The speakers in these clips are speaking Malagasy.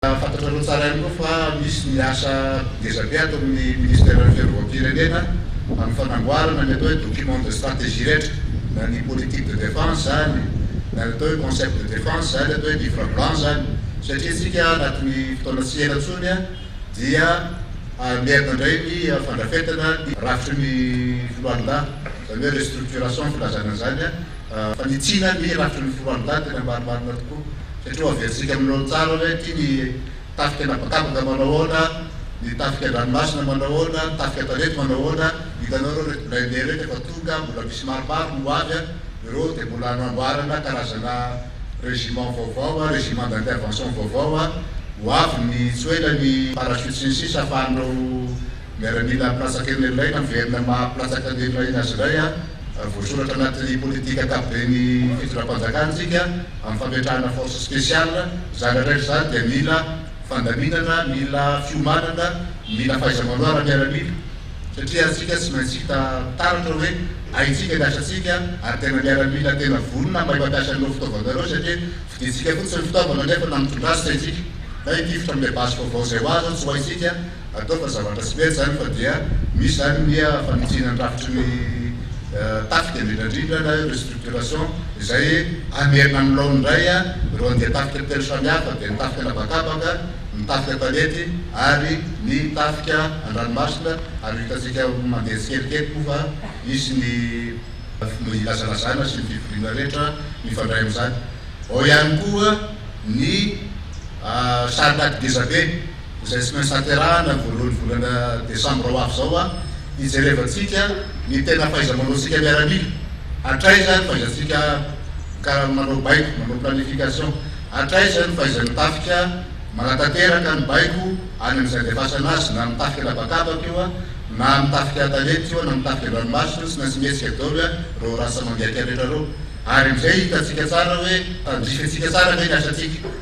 Fantatrareo tsara ihany koa fa misy ny asa ngeza be ato amin'ny Ministeran'ny Fiarovam-pirenena amin'ny fanamboarana ny atao hoe document de stratégie rehetra, na ny politique de défense izany, na ny atao hoe concept de défense izany, atao hoe livre blanc izany, satria isika anatin'ny fotoana tsy ela intsony dia hamerina indray ny fandrafetana ny rafitry ny Foloalindahy, izany hoe restructuration filazana an'izany. Fanditsiana ny rafitry ny foloalindahy tena marimarina tokoa satria hoaverintsika amin'ny laoniny tsara hoe ity ny tafika an'habakabaka manao ahoana, ny tafika an-dranomasina manao ahoana, ny tafika an-tanety manao ahoana. Hitanao ireo ireto blindés ireto efa tonga, mbola misy maromaro no ho avy a! Ireo dia mbola anamboarana karazana régiment vaovao a, régiment d'intervention vaovao a! Ho avy ny tsy ho ela ny parachute sy ny sisa afahan'ireo. Miaramila mpilatsaka eny iray na VM maha mpilatsaka ny eny aoriana azy iray ary voasoratra anatin'ny politika ankapoben'ny fitondram-panjakana isika amin'ny fametrahana force spéciale, izany indray izany dia mila fandaminana, mila fiomanana, mila fahaiza-manao ara-miaramila satria isika tsy maintsy hita taratra hoe haintsika ny asantsika ary tena miaramila tena vonona mahay mampiasa an'ireo fitaovana ireo satria fidintsika fotsiny ny fitaovana nefa na mitondra azy tsy haintsika na hitifitra amin'ilay basy vaovao izay ho azy aho tsy ho haintsika Atao fa zavatra tsy mety zany fa dia misy zany ny fanitsiana ny rafitry ny tafika indrindrandrindra na hoe restructuration izay hamerina amin'ny laoniny indray ireo andian-tafika telo samihafa dia ny tafika an'habakabaka, ny tafika tanety ary ny tafika an-dranomasina ary hitantsika mandeha tsikelikely koa fa hisy ny filazalazana sy ny fivoriana rehetra mifandray amin'izany. Ao ihany koa ny sary laky gezabe. izay tsy maintsy haterahana ny voalohan'ny volana desambra ho avy izao, hijerevantsika ny tena fahaiza-manaontsika miaramila, hatraiza ny fahaizantsika mika manao baiko, manao planification, hatraiza ny fahaizan'ny tafika manatanteraka ny baiko any amin'izay andefasana azy, na amin'ny tafika an'habakabaka io, na amin'ny tafika an-tanety io, na amin'ny tafika an-dranomasina io, tsy maintsy mihetsika daholo ireo rasa mandiaka rehetra ireo, ary amin'izay hitantsika tsara hoe tandrifintsika tsara ve ny asantsika.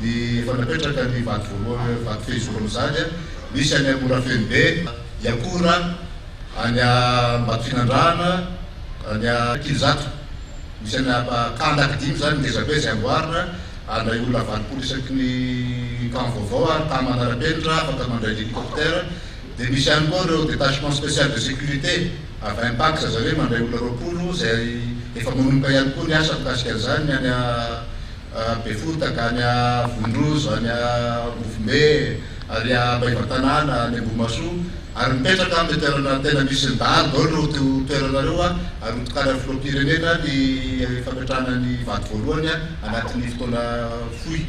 Ny efa napetraka ny vady voalohany vady fehizoro mizary misy any Morafenobe, Iakora, any Ambatofinandrahana, any Ankilozato misy any ka Andaky dimy izany ngeza be izay amboarina ary ilay olona valopolo isaky ny camp vaovao ary camp manarapenitra afaka mandray l'hélicoptère dia misy ihany koa ireo détachement spécial de sécurité avy any Pax zareo hoe mandray olona roapolo izay efa manomboka ihany koa ny asa mikasika an'izany ny any Befotaka, any Vondrozo, any Ambovombe, ary Ambaivatanàna, any Ambohimahasoa, ary mipetraka amin'ny toerana tena misy ny dahalo daholo ireo toerana ireo, ary hotokanan'ny Filoham-pirenena ny fametrahana ny vady voalohany anatin'ny fotoana fohy.